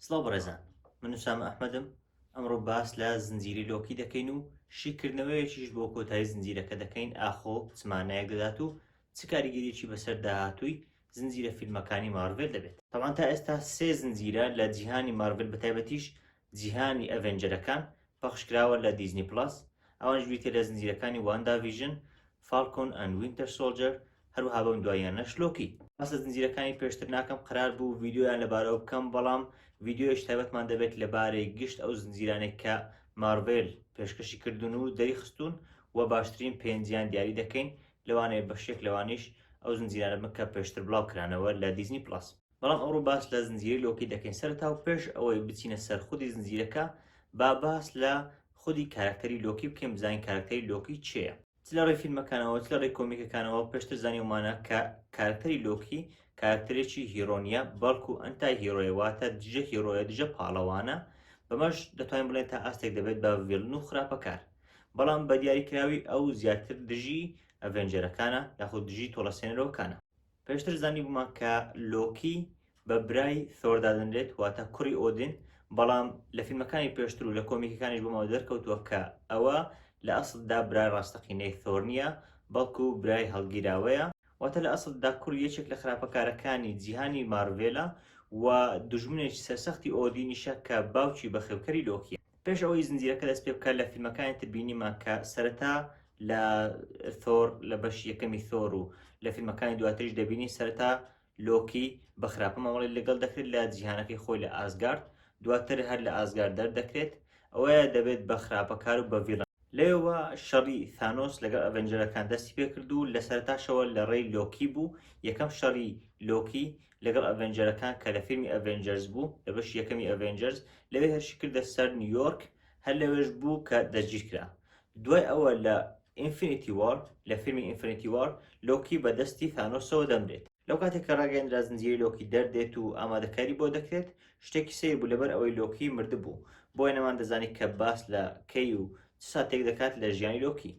سڵاو بەڕێزان من سامە ئەحمەدم ئەمڕۆ باس لە زنجیری لۆکی دەکەین و شیکردنەوەیەکیش بۆ کۆتایی زنجیرەکە دەکەین ئاخۆ چمانایەک دەدات و چ کاریگەریی بەسەر داهاتووی زنجیرە فیلمەکانی مارڤێل دەبێت تەوان تا ئێستا سێ زنجیرە لە جیهانی مارڤل بەتایبەتیش جیهانی ئەڤێنجەرەکان پەخشکراوە لە دیزنی پڵەس، ئەوانیش بریتیە لە زنجیرەکانی واندا ڤیژن، فاڵکۆن ئەند وینتەر سۆڵجەر، هەروەها بەم دواییانەش لۆکی. باس لە زنجیرەکانی پێشتر ناکەم، قەرار بوو ڤیدیۆیان لەبارەوە بکەم، بەڵام ڤیدیۆیش تایبەتمان دەبێت لەبارەی گشت ئەو زنجیرانەی کە مارڤێل پێشکەشی کردوون و دەریخستوون و باشترین پێنجیان دیاری دەکەین، لەوانەیە بەشێک لەوانیش ئەو زنجیرانە بن کە پێشتر بڵاوکرانەوە لە دیزنی پڵەس. بەڵام ئەوڕۆ باس لە زنجیرەی لۆکی دەکەین سەرتا و پێش ئەوەی بچینە سەر خودی زنجیرەکە با باس لە خودی کارکتەری لۆکی بکەین بزانین کارکتەری لۆکی چێە چ لە ڕێ فیلمەکانەوە چ لە ڕێ کۆمیکەکانەوە پێشتر زانیومانە کە کارکتەری لۆکی کارکتەرێکی هیرۆنیە بەڵکو ئەنتای هیرۆیە واتە دژە هیرۆیە دژە پاڵەوانە بەمەش دەتوانین بڵێن تا ئاستێک دەبێت بە ڤێلن و خراپەکار بەڵام بە دیاریکراوی ئەو زیاتر دژی ئەڤێنجەرەکانە یاخود دژی تۆڵەسێنەرەوەکانە پێشتر زانیبوومان کە لۆکی بە برای ثۆر دادەنرێت واتە کوڕی ئۆدین بەڵام لە فیلمەکانی پێشتر و لە کۆمیکەکانیش بۆمەوە دەرکەوتووە کە ئەوە لە ئەسڵدا برای ڕاستەقینەی ثۆر نییە بەڵکو برای هەڵگیراوەیە واتە لە ئەسڵدا کوڕی یەکێک لە خراپەکارەکانی جیهانی مارڤێلە و دوژمنێکی سەرسەختی ئۆدینیشە کە باوکی بەخێوکەری لۆکیە پێش ئەوەی زنجیرەکە دەست پێ بکات لە فیلمەکانی تر بینیمان کە سەرەتا لە ثۆر لە بەش یەکەمی ثۆر و لە فیلمەکانی دواتریش دەبینی سەرەتا لۆکی بە خراپە مامەڵی لەگەڵ دەکرێت لە جیهانەکەی خۆی لە ئازگارد دواتر هەر لە ئازگار دەردەکرێت ئەوەیە دەبێت بە خراپەکار و بەڤیڵ لێوە شەڕی ثانۆس لەگەڵ ئەڤەنجەرەکان دەستی پێکرد و لە سەرتاشەوە لە ڕێی لۆکی بوو یەکەم شەڕی لۆکی لەگەڵ ئەڤێنجەرەکان کە لە فیلمی ئەڤێنجەرز بوو لە بەشی یەکەمی ئەڤێنجەرز لەوێ هێرشی کردە سەر نیویۆرک هەر لەوێش بوو کە دەستگیر کرا دوای ئەوە لە ئینفینیتی وار لە فیلمی ئینفینیتی وار لۆکی بە دەستی ثانۆسەوە دەمرێت لەو کاتێک کە ڕاگەیەندرا زنجیرەی لۆکی دەردێت و ئامادەکاری بۆ دەکرێت شتێکی سەیر بوو لەبەر ئەوەی لۆکی مردبوو بۆیە نەمان دەزانی کە باس لە کەی و چ ساتێک دەکات لە ژیانی لۆکی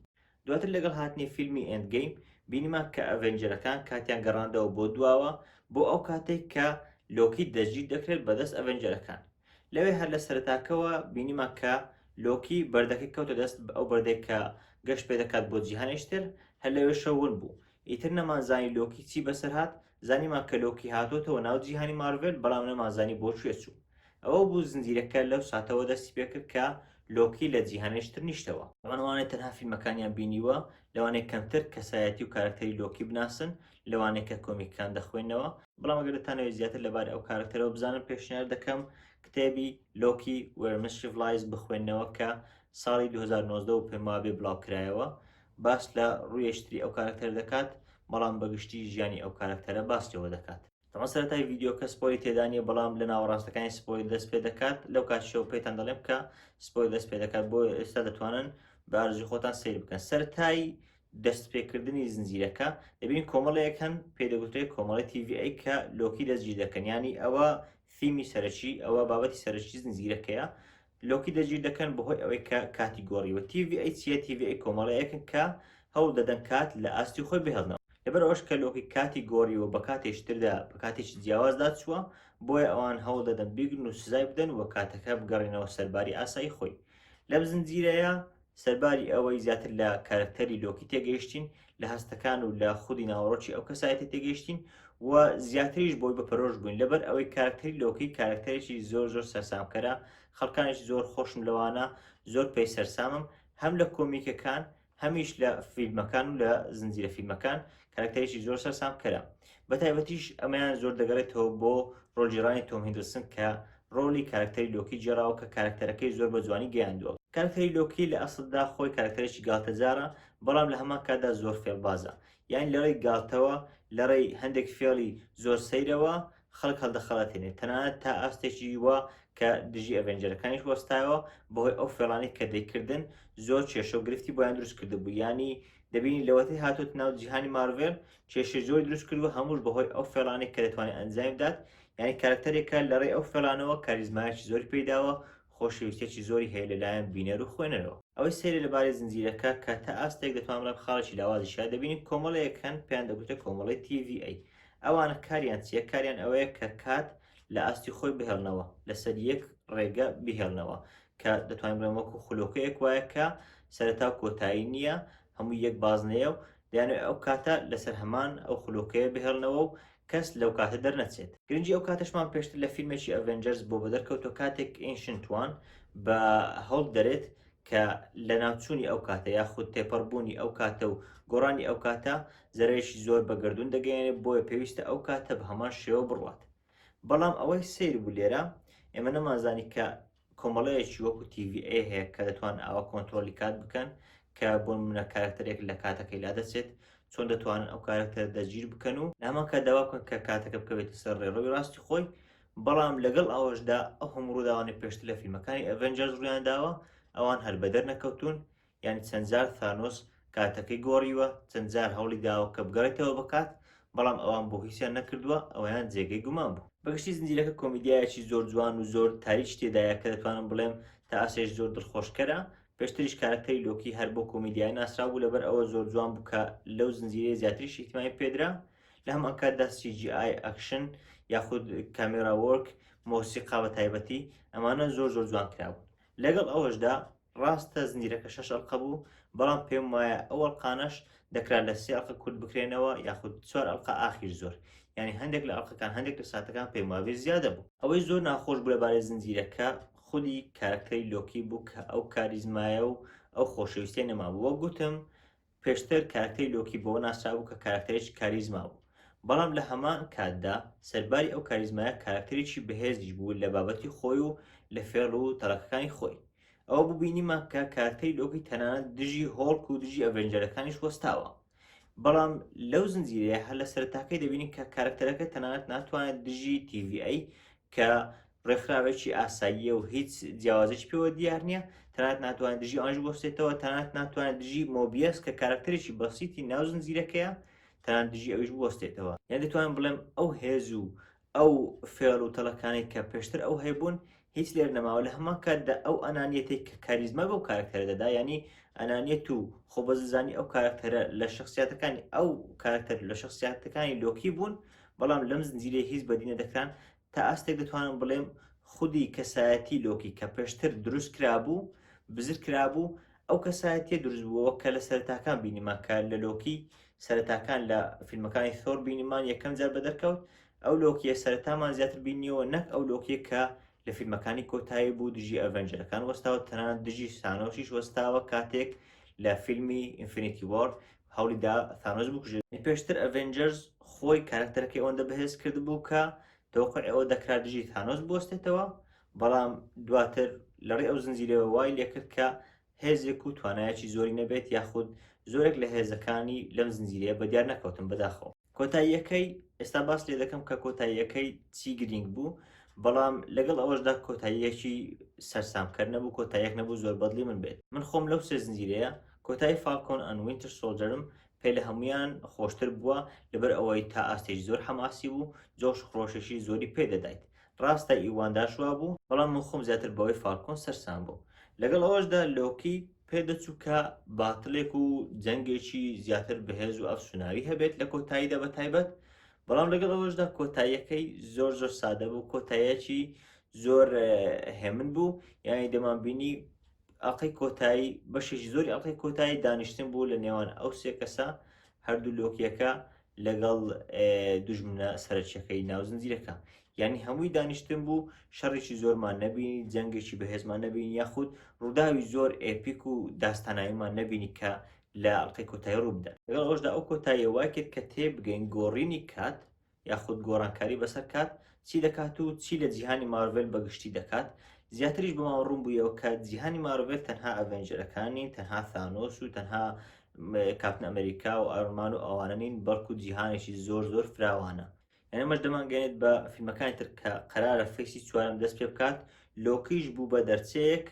دواتر لەگەڵ هاتنی فیلمی ئێند گەیم بینیمان کە ئەڤێنجەرەکان کاتیان گەڕاندەوە بۆ دواوە بۆ ئەو کاتێک کە لۆکی دەستگیر دەکرێت بەدەست ئەڤێنجەرەکان لەوێ هەر لە سەرتاکەوە بینیمان کە لۆکی بەردەکەی کەوتە دەست ئەو بەردێک کە گەشت پێ دەکات بۆ جیهانێشتر هەر لەوێ شەون بوو ئیتر نەمانزانی لۆکی چی بەسەر هاات زانیمان کە لۆکی هاتۆتەوە ناو جیهانی مارڤێل بەڵام نەمانزانی بۆ کوێ چوو ئەوە بوو زنجیرەکە لەو ساتەوە دەستی پێکرد کە لۆکی لە جیهانێش تر نیشتەوە ئەوانەوانەی تەنها فیلمەکانیان بینیوە لەوانەیە کەمتر کەسایەتی و کارەکتەری لۆکی بناسن لەوانەیە کە کۆمیکەکان دەخوێنەوە بەڵام ئەگەر دەتانەوێت زیاتر لەبارەی ئەو کارەکتەرەوە بزانن پێشنیار دەکەم کتێبی لۆکی وێرمسیڤلایز بخوێنەوە کە ساڵی 2009 و پێموابێ بڵاوکرایەوە باس لە ڕویشتری ئەو کارەکتەر دەکات بەڵام بە گشتی ژیانی ئەو کارەکتەرە باس لێوە دەکات. تەمان سەرەتای ڤیدیۆکە سپۆیلی تێدانیە بەڵام لە ناوەڕاستەکانی سپۆیل دەست پێدەکات لەو کاتیشەوە پێتان دەڵێم کە سپۆیل دەست پێدەکات بۆ ئێستا دەتوانن بە ئارزوی خۆتان سیر بکەن سەرتای دەست پێکردنی زنجیرەکە دەبین کۆمەڵەیەک هەن پێدەگوترێت کۆمەڵی تیVI کە لۆکی دەستگیر دەکەن ینی ئەوە فیمی سەرەکی ئەوە بابەتی سەرەکی زنجیرەکەیە لۆکی دەجیر دەکەن بەهۆی ئەوەی کە کاتی گۆڕیوە تیڤی ئەی چیە تیڤی ئەی کۆمەڵەیەکن کە هەوڵ دەدەن کات لە ئاستی خۆی بهێڵنەوە لەبەر ئەوەش کە لۆکی کاتی گۆڕیوە بە کاتێشتردا بە کاتێکی جیاوازدا چووە بۆیە ئەوان هەوڵ دەدەن بیگرن و سزای بدەن و کاتەکە بگەڕێنەوە سەرباری ئاسایی خۆی لەم زنجیرەیە سەرباری ئەوەی زیاتر لە کارکتەری لۆکی تێگەیشتین لە هەستەکان و لە خودی ناوەڕۆکی ئەو کەسایەتی تێگەیشتین و زیاتریش بۆی بە پەرۆش بووین لەبەر ئەوەی کارکتەری لۆکی کارکتەرێکی زۆر زۆر سەرسامکەرە خەڵکانێکی زۆر خۆشم لەوانە زۆر پێی سەرسامم هەم لە کۆمیکەکان هەمیش لە فیلمەکان و لە زنجیرە فیلمەکان کارەکتەرێکی زۆر سەرسام کەرە بە تایبەتیش ئەمەیان زۆر دەگەڕێتەوە بۆ ڕۆژیرانی تۆم هندرسن کە ڕۆلی کارکتەری لۆکی جێراوە کە کارکتەرەکەی زۆر بە جوانی گەیاندووە کارکتەری لۆکی لە ئەسلدا خۆی کارکتەرێکی گالتەجارە بەڵام لە هەمان کاتدا زۆر فێڵبازە یان لەڕێی گالتەوە لەڕێی هەندێک فێڵی زۆر سەیرەوە خەڵک هەڵدەخەڵەتێنێت تەنانەت تا ئاستێکی وە کە دژی ئەڤێنجەرەکانیش وەستایەوە بەهۆی ئەو فێڵانی کە دەیکردن زۆر کێشە و گرفتی بۆیان دروست کردبوو ینی دەبینی لەوەتەی هاتۆتە ناو جیهانی مارڤێل کێشە زۆر دروست کردووە هەمووش بەهۆی ئەو فێڵانێک کە دەتوانێت ئەنجامی بدات یعنی کارەکتەرێکە لەڕێی ئەو فێڵانەوە کاریزمایەکی زۆری پێیداوە خۆشەویستێکی زۆری هەیە لەلایەن بینەر و خوێنەرەوە ئەوەی سەیرە لەبارەی زنجیرەکە کە تا ئاستێک دەتوان بڵێم خاڵێکی لاوازیشە دەبینی کۆمەڵەیەک هەن پێیان دەگوترێت کۆمەڵەی TVA ئەوانە کاریان چییە کاریان ئەوەیە کە کات لە ئاستی خۆی بهێڵنەوە لەسەر یەک ڕێگە بهێڵنەوە کە دەتوانین بڵێن وەکو خولۆکەیەک وایە کە سەرەتا و کۆتایی نییە هەموو یەک بازنەیە و دەیان ئەو کاتە لەسەر هەمان ئەو خولۆکەیە بهێڵنەوە و کەس لەو کاتە دەرنەچێت گرنگی ئەو کاتەشمان پێشتر لە فیلمێکی ئەڤێنجەرز بۆ بەدەرکەوتۆ کاتێک ئینشنت وان بە هەوڵ دەرێت کە لە ناوچوونی ئەو کاتە یاخود تێپەڕبوونی ئەو کاتە و گۆڕانی ئەو کاتە زەرەیەکی زۆر بە گردون دەگەیەنێت بۆیە پێویستە ئەو کاتە بە هەمان شێوە بڕوات بەڵام ئەوەی سەیر بوو لێرە ئێمە نەمانزانی کە کۆمەڵەیەکی وەکو TV ئێ هەیە کە دەتوان ئاوە کۆنتترۆلی کات بکەن کە بۆن منە کارکتەرێک لە کاتەکەی لا دەچێت چۆن دەتوانن ئەو کارکتەر دەگیر بکەن و نامان کە داوا بکەن کە کاتەکە بکەوێت سەر ڕێڕەوی ڕاستی خۆی بەڵام لەگەڵ ئەوەشدا ئەو هەموو ڕووداوانە پێشتر لە فیلمەکانی ئەڤنجەرز ڕویان داوە ئەوان هەر بەدەر نەکەوتون یانی چەند جار ثانۆس کاتەکەی گۆڕیوە، چەند جار هەوڵی داوە کە بگەڕێتەوە بە کات، بەڵام ئەوان بۆ هیچیان نەکردووە، ئەوەیان جێگەی گومان بوو. بە گشتی زنجیرەکە کۆمیدیایەکی زۆر جوان و زۆر تاریکی تێدایە کە دەتوانم بڵێم تا ئاستێک زۆر دڵخۆشکەرە، پێشتریش کارەکتەری لۆکی هەر بۆ کۆمیدیایە ناسراو بوو لەبەر ئەوە زۆر جوان بوو کە لەو زنجیرەیە زیاتریش ئیهتیمامی پێدرا، لە هەمان کاتدا سی جی ئای، ئەکشن، یاخود کامێرا وۆرک، مۆسیقا بە تایبەتی، ئەمانە زۆر زۆر جوان کرابوون. لەگەڵ ئەوەشدا ڕاستە زنجیرەکە شەش ئەڵقە بوو بەڵام پێم وایە ئەو ئەڵقانەش دەکرا لە سێ ئەڵقە کورت بکرێنەوە یاخود چوار ئەڵقە ئاخیر زۆر یعنی هەندێک لە ئەڵقەکان هەندێک لە ساتەکان پێم وابێ زیادە بوو ئەوەی زۆر ناخۆش بوو لەبارەی زنجیرەکە خودی کارەکتەری لۆکی بوو کە ئەو کاریزمایە و ئەو خۆشەویستیە نەمابوو وەک گوتم پێشتر کارەکتەری لۆکی بەوە ناسرابوو کە کارەکتەرێکی کاریزما بوو، بەڵام لە هەمان کاتدا سەرباری ئەو کاریزمایە کارەکتەرێکی بەهێزیش بوو لە بابەتی خۆی و لە فێڵ و تەڵەکەکانی خۆی. ئەوە بوو بینیمان کە کارەکتەری لۆکی تەنانەت دژی هۆڵک و دژی ئەڤێنجەرەکانیش وەستاوە. بەڵام لەو زنجیرەیە هەر لە سەرەتاکەی دەبینین کە کارەکتەرەکە تەنانەت ناتوانێت دژی TVA کە ڕێکخراوێکی ئاساییە و هیچ جیاوازێکی پێوە دیار نییە تەنات ناتوانێت دژی ئەنج بۆستێتەوە تەنات ناتوانێت دژی مۆبیەس کە کارکتەرێکی بەسیتی ناو زنجیرەکەیە تەنان دژی ئەوش بۆستێتەوە یان دەتوان بڵێم ئەو هێز و ئەو فێڵ و تەڵەکانێک کە پێشتر ئەو هەیبوون هیچ لێر نەماوە لە هەمان کاتدا ئەو ئەنانیەتێک کە کاریزما بەو کارکتەرە دەدا ینی ئەنانیت و خۆبەزلزانی ئەو کارکتەرە لە شخصیاتەکانی ئەو کارکتەر لە شخصیاتەکانی لۆکی بوون بەڵام لەم زنجیرە هیچ بەدینە دەکران تا ئاستێک دەتوانم بڵێم خودی کەسایەتی لۆکی کە پێشتر دروست کرابوو بزر کرابوو ئەو کەسایەتیە دروست بووەوە کە لە سەرتاکان بینیمان کە لە لۆکی سەرتاکان لە فیلمەکانی ثۆر بینیمان یەکەم جار بە دەرکەوت ئەو لۆکیە سەرتامان زیاتر بینیەوە نەک ئەو لۆکیە کە لە فیلمەکانی کۆتایی بوو دژی ئەڤەنجەرەکان وەستاوە تەنان دژی سانۆشیش وەستاوە کاتێک لە فیلمی ئینفینیتی وارد هەوڵی دا ثانۆس بکوژێت. پێشتر ئەڤێنجەرز خۆی کارەکتەرەکەی ئەوەندە بەهێز کردبوو کە تەوەقعی ئەوە دەکرا دژی ثانۆس بوەستێتەوە، بەڵام دواتر لەڕێی ئەو زنجیرەوە وای لێکرد کە هێزێک و توانایەکی زۆری نەبێت یاخود زۆرێک لە هێزەکانی لەم زنجیرەیە بەدیار نەکەوتن. بەداخەوە. کۆتاییەکەی ئێستا باس لێ دەکەم کە کۆتاییەکەی چی گرینگ بوو بەڵام لەگەڵ ئەوەشدا کۆتاییەکی سەرسامکەر نەبوو کۆتایەک نەبوو زۆر بەدلی من بێت من خۆم لەو سێ زنجیرەیە کۆتایی فالکۆن ئەن وینتر سۆلجەرم پێ لە هەمویان خۆشتر بووە لەبەر ئەوەی تا ئاستێکی زۆر حەماسی بوو جۆش خرۆشێکی زۆری پێدەدایت ڕاستە ئیوان داش وابوو، بەڵام من خۆم زیاتر بەوەی فالکۆن سەرسام بووم. لەگەڵ ئەوەشدا لۆکی پێدەچوو کە باتڵێک و جەنگێکی زیاتر بەهێز و ئەفسوناوی هەبێت لە کۆتاییدا بە تایبەت، بەڵام لەگەڵ ئەوەشدا کۆتاییەکەی زۆر زۆر سادە بوو کۆتایەکی زۆر هێمن بوو یانی دەمانبینی ئەڵقەی کۆتایی بەشێکی زۆری ئەڵقەی کۆتایی دانیشتن بوو لە نێوان ئەو سێ کەسە هەردوو لۆکیەکە لەگەڵ دژمنە سەرچەکەی ناو زنجیرەکە یعنی هەمووی دانیشتن بوو شەڕێکی زۆرمان نەبینی جەنگێکی بەهێزمان نەبین یاخود ڕووداوی زۆر ئێپیک و داستاناییمان نەبینی کە لە ئەڵلقەی کۆتای ڕووبدا لەگەڵ ئەوشدا ئەو کۆتاییە وای کرد کە تێبگەین گۆڕینی کات یاخود گۆڕانکاری بەسەر کات چی دەکات و چی لە جیهانی مارڤێل بە گشتی دەکات زیاتریش بەمەوە ڕوون بوویەوە کە جیهانی مارڤێل تەنها ئەڤێنجەرەکانی تەنها ثانۆس و تەنها کاپتن ئەمریکا و ئارمان و ئەوانە نین بەڵکو جیهانێکی زۆر زۆر فراوانە یعنی مەش دەمانگەێت بە فیلمەکانی تر کە قەرارە فەیسی چوارم دەست پێ بکات لۆکیش بوو بە دەرچەیەک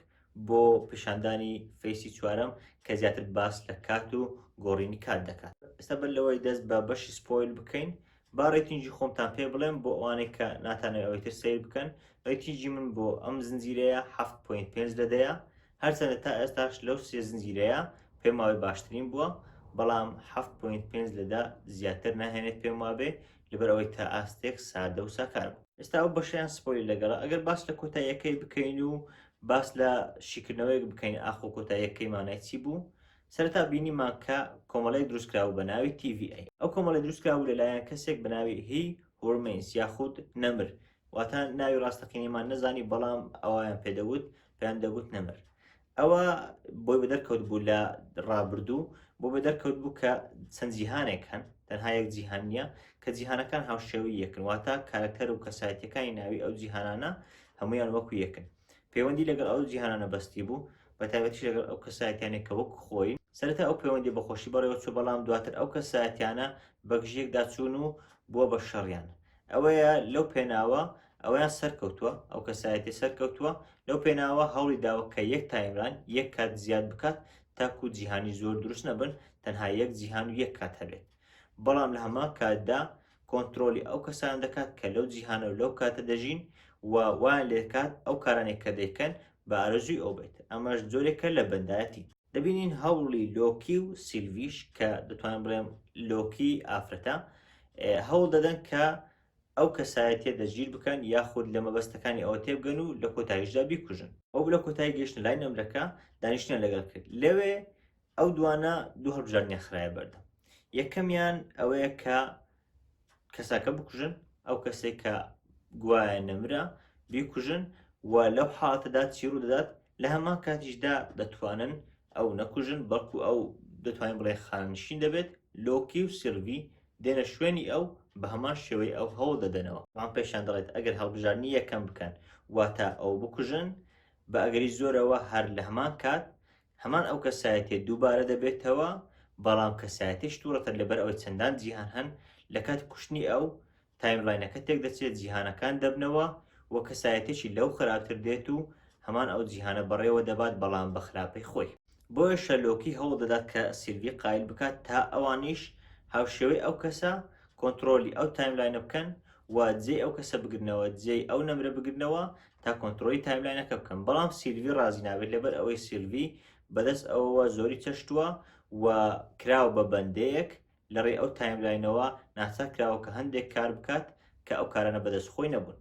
بۆ پیشاندانی فەیسی چوارەم کە زیاتر باس لە کات و گۆڕینی کات دەکات ئێستا بەر لەوەی دەست بە بەشی سپۆیل بکەین با ڕێتینجی خۆمتان پێ بڵێم بۆ ئەوانەی کە ناتانەوەی ئەوەی تر سیر بکەن ڕێتینجی من بۆ ئەم زنجیرەیە 7.5 لە دەیە هەرچەندە تا ئێستاش لەو سێ زنجیرەیە پێم وابێ باشترین بووە بەڵام 7.5 لەدا زیاتر ناهێنێت پێم وابێ لەبەر ئەوەی تا ئاستێک سادە و ساکار بوو ئێستا ئەو بەشیان سپۆیل لەگەڵە ئەگەر باس لە کۆتاییەکەی بکەین و باس لە شیکردنەوەیەک بکەین ئاخۆ کۆتاییەکەی مانای چی بوو؟ سەرەتا بینیمان کە کۆمەڵەیەک دروستکرابوو بە ناوی TVA ئەو کۆمەڵە دروستکرابوو لەلایەن کەسێک بە ناوی هی هۆرمینس یاخود نەمر واتە ناوی ڕاستەقینەیمان نەزانی بەڵام ئەویان پێدەوت پێیان دەگوت نەمر ئەوە بۆی بە دەرکەوت بوو لە ڕابردوو بۆ بە دەرکەوت بوو کە چەند جیهانێک هەن تەنها یەک جیهان نییە کە جیهانەکان هاوشێوی یەکن واتە کارەکتەر و کەسایەتەکانی ناوی ئەو جیهانانە هەمویان وەکو یەکن پەیوەندی لەگەڵ ئەو جیهانانە بەستی بوو بە تایبەتیش لەگەڵ ئەو کەسایەتیانێک کە وەکو خۆی سەرەتا ئەو پەیوەندی بە خۆشی بەڕێوە چوو بەڵام دواتر ئەو کەسایەتیانە بەگژیەکدا چوون و بووە بە شەڕیان ئەوەیە لەو پێناوە ئەویان سەرکەوتووە ئەو کەسایەتی سەرکەوتووە لەو پێناوە هەوڵی داوە کە یەک تایمران یەک کات زیاد بکات تاکو جیهانی زۆر دروست نەبن تەنها یەک جیهان و یەک کات هەبێت بەڵام لە هەمان کاتدا کۆنترۆلی ئەو کەسانە دەکات کە لەو جیهانە و لەو کاتە دەژین و وایان لێکات ئەو کارانێک کە دەیکەن بە ئارەزووی ئەو بێت ئەمەش جۆرێکە لە بەندایەتی دەبینین هەوڵی لۆکی و سیلڤیش کە دەتوانم بڵێم لۆکی ئافرەتە هەوڵ دەدەن کە ئەو کەسایەتە دەژیر بکەن یاخود لە مەبەستەکانی ئەوە تێبگەن و لە کۆتاییشدا بیکوژن ئەو لە کۆتای گەشتن لای نەمرەکە دانیشتە لەگەڵ کرد لەوێ ئەو دوانە دوو هەڵبژاردنیان خرایە بەردەم یەکەمیان ئەوەیە کە کەساکە بکوژن ئەو کەسێک کە گوایە نەمرە بیکوژن و لەو حاڵەتەدا چیڕوو دەدات لە هەمان کاتیشدا دەتوانن ئەو نەکوژن بەڵکو ئەو دەتوانین بڵێ خانشین دەبێت لۆکی و سلڤی دێنە شوێنی ئەو بە هەمان شێوەی ئەو هەوڵ دەدەنەوە وان پێشان دەڵێت ئەگەر هەڵبژارنی یەکەم بکەن واتە ئەو بکوژن بە ئەگەری زۆرەوە هەر لە هەمان کات هەمان ئەو کەسایەتیە دووبارە دەبێتەوە، بەڵام کەسایەتی شتوڕتر لەبەر ئەوەی چەندان جیهان هەن، لە کاتی کوشتنی ئەو، تایملاینەکە تێکدەچێت، جیهانەکان دەبنەوە و کەسایەتیەکی لەو خراپتر دێت و هەمان ئەو جیهانە بەڕێوە دەبات بەڵام بە خراپەی خۆی. بۆیەشە لۆکی هەوڵ دەدات کە سیلڤی قایل بکات تا ئەوانیش هاوشێوەی ئەو کەسە کۆنتڕۆلی ئەو تایملاینە بکەن و جێی ئەو کەسە بگرنەوە، جێی ئەو نەمرە بگرنەوە تا کۆنترۆلی تایملاینەکە بکەم بەڵام سیلڤی ڕازی نابێت لەبەر ئەوەی سیلڤی بەدەست ئەوەوە زۆری چەشتووە و کراوە بە بەندەیەک لە ڕێ ئەو تایملاینەوە ناچار کراوە کە هەندێک کار بکات کە ئەو کارانە بەدەست خۆی نەبوون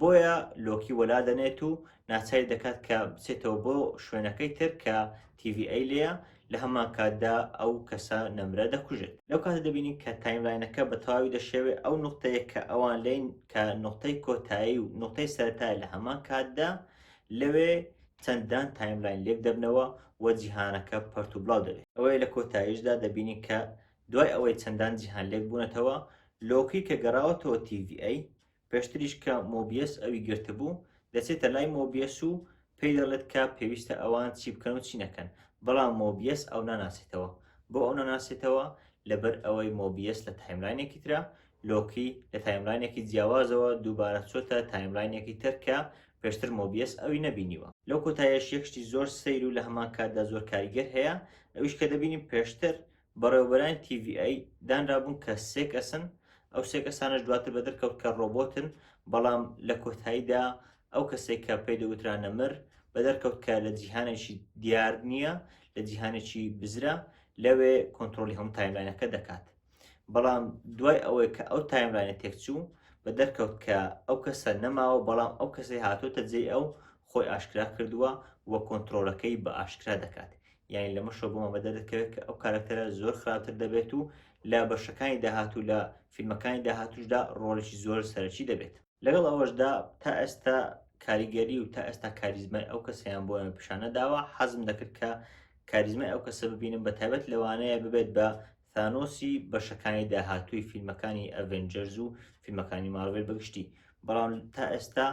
بۆیە لۆکی وەلا دەنێت و ناچاری دەکات کە بچێتەوە بۆ شوێنەکەی تر کە تیVA لەیە لە هەمانکاتدا ئەو کەسە نەمرە دەکوژێت. لەو کاتە دەبینین کە تایملاینەکە بە تەواوی دەشێوێ، ئەو نوقتەیە کە ئەوان لێین کە نوقتەی کۆتایی و نوقتەی سەرەتایە لە هەمان کاتدا، لەوێ چەندان تایملاین لێک دەبنەوە و جیهانەکە پەرت و بڵاو دەبێ. ئەوەیە لە کۆتاییشدا دەبینین کە دوای ئەوەی چەندان جیهان لێک بوونەتەوە، لۆکی کە گەڕاوەتەوە TVA، پێشتریش کە مۆبیەس ئەوی گرتبوو، دەچێتە لای مۆبیەس و پێی دەڵێت کە پێویستە ئەوان چی بکەن و چی نەکەن، بەڵام مۆبیەس ئەو ناناسێتەوە. بۆ ئەو ناناسێتەوە؟ لەبەر ئەوەی مۆبیەس لە تایملاینێکی ترە، لۆکی لە تایملاینێکی جیاوازەوە دووبارە چۆتە تایملاینێکی تر کە پێشتر مۆبیەس ئەوی نەبینیوە. لەو کۆتایەش یەک شتی زۆر سەیر و لە هەمان کاتدا زۆر کاریگەر هەیە، ئەویش کە دەبینین پێشتر بەڕێوەبەرانی TVA دانرابوون کە سێ کەسن، ئەو سێ کەسانەش دواتر بەدەرکەوت کە ڕۆبۆتن، بەڵام لە کۆتاییدا ئەو کەسەی کە پێی دەوترا نەمر، بەدەرکەوت کە لە جیهانێکی دیار نییە، لە جیهانێکی بزرە، لەوێ کۆنترۆڵی هەموو تایملاینەکە دەکات. بەڵام دوای ئەوەی کە ئەو تایملاینە تێکچوو، بەدەرکەوت کە ئەو کەسە نەماوە، بەڵام ئەو کەسەی هاتووەتە جێی ئەو خۆی ئاشکرا کردووە و کۆنترۆڵەکەی بە ئاشکرا دەکات، یانی لەمە شەو بۆمان بەدە دەکەوێت کە ئەو کارکتەرە زۆر خراپتر دەبێت و لە بەشەکانی داهات و لە فیلمەکانی داهاتوشدا ڕۆڵێکی زۆر سەرەکی دەبێت لەگەڵ ئەوەشدا تا ئێستا کاریگەری و تا ئێستا کاریزمای ئەو کەسیان بۆ پیشانەداوە حەزم دەکرد کە کاریزمای ئەو کەسە ببینم بە تایبەت لەوانەیە ببێت بە ثانۆسی بەشەکانی داهاتووی فیلمەکانی ئەڤێنجەرز و فیلمەکانی مارڤێل بەگشتی بەڵام تا ئێستا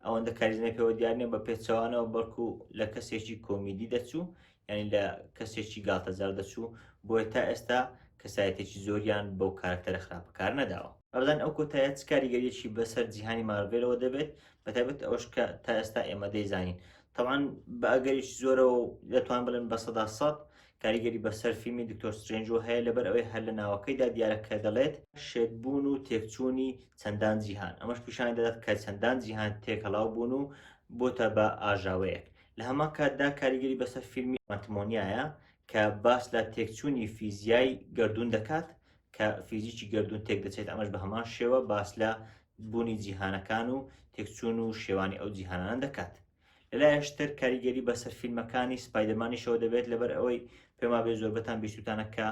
ئەوەندە کاریزمای پێوە دیار نیە بە پێچەوانەوە بەڵکو لە کەسێکی کۆمیدی دەچوو یعنی لە کەسێکی گاڵتەجار دەچوو بۆیە تا ئێستا کەسایەتێکی زۆریان بەو کارکتەرە خراپە کار نەداوە ئەبدان ئەو کۆتایە چ کاریگەریەکی بەسەر جیهانی مارڤێلەوە دەبێت بەتابێت ئەوش کە تا ئێستا ئێمە دەیزانین تەوان بە ئەگەریش زۆرەوە دەتوان بڵێن بە سەدا سەد کاریگەری بەسەر فیلمی دکتۆر سترەینجەوە هەیە لەبەر ئەوەی هەر لە ناوەکەیدا دیارە کە دەڵێت، شێتبوون و تێکچوونی چەندان جیهان، ئەمەش پیشانی دەدات کە چەندان جیهان تێکەڵاو بوون و بۆتە بە ئاژاوەیەک. لە هەمان کاتدا کاریگەری بەسەر فیلمی ماتمۆنیایە کە باس لە تێکچوونی فیزیای گەردوون دەکات کە فیزیکی گەردوون تێکدەچێت، ئەمەش بە هەمان شێوە باس لە بوونی جیهانەکان و تێکچوون و شێوانی ئەو جیهانانە دەکات. لەلایەکش تر کاریگەری بەسەر فیلمەکانی سپایدەرمانیشەوە دەبێت لەبەر ئەوەی پێمابێ زۆربەتان بیستوتانە کە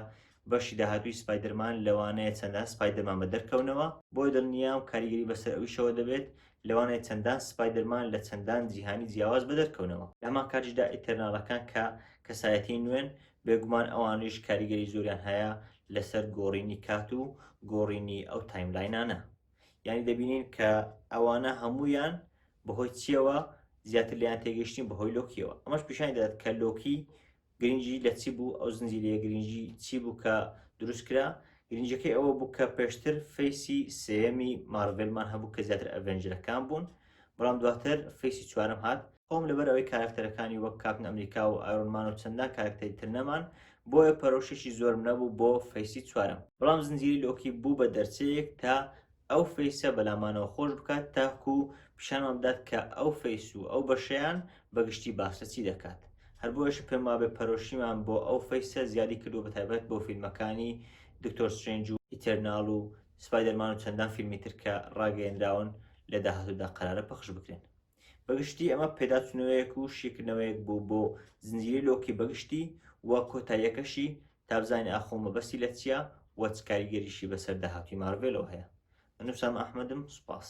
بەشی داهاتووی سپایدەرمان لەوانەیە چەندان سپایدەرمان بە دەرکەونەوە بۆیە دڵنیام کاریگەری بەسەر ئەویشەوە دەبێت لەوانەیە چەندان سپایدەرمان لە چەندان جیهانی جیاواز بە دەرکەونەوە لە هەمان کاتیشدا ئیتەرناڵەکان کە کەسایەتی نوێن بێگومان ئەوانیش کاریگەری زۆریان هەیە لەسەر گۆڕینی کات و گۆڕینی ئەو تایملاینانە یعنی دەبینین کە ئەوانە هەمویان بەهۆی چیەوە زیاتر لێیان تێگەیشتین بەهۆی لۆکیەوە ئەمەش پیشانی دەدات کە لۆکی گرنگی لە چی بوو ئەو زنجیرەیە گرنگی چی بوو کە دروست کرا گرنجەکەی ئەوە بوو کە پێشتر فەیسی سێمی مارڤلمان هەبوو کە زیاتر ئەڤێنجرەکان بوون بەڵام دواتر فەیسی چوارم هات خۆم لەبەر ئەوەی کارکتەرەکانی وەک کاپن ئەمریکا و ئایرۆنمان و چەندان کارکتەری تر نەمان بۆیە پەرۆشێکی زۆرم نەبوو بۆ فەیسی چوارم بەڵام زنجیری لۆکی بوو بە دەرچەیەک تا ئەو فەیسە بەلامانەوە خۆش بکات تاکو پیشانمان بدات کە ئەو فەیس و ئەو بەشەیان بەگشتی باس لە چی دەکات هەر بۆیش پێم وابێ پەرۆشیمان بۆ ئەو فەیسە زیادی کردووە بە تایبەت بۆ فیلمەکانی دکتۆر سترێنج و ئیتەرناڵ و سپایدەرمان و چەندان فیلمی تر کە ڕاگەیەنراون لە داهاتوودا قەرارە پەخش بکرێن بەگشتی ئەمە پێداچوونەوەیەک و شیکردنەوەیەک بوو بۆ زنجیری لۆکی بەگشتی و کۆتاییەکەشی تابزانانی ئاخۆ مەبەستی لە چییە و چ کاریگەریشی بەسەر داهاتووی مارڤێلەوە هەیە من نووسام ئەحمەدم سوپاس.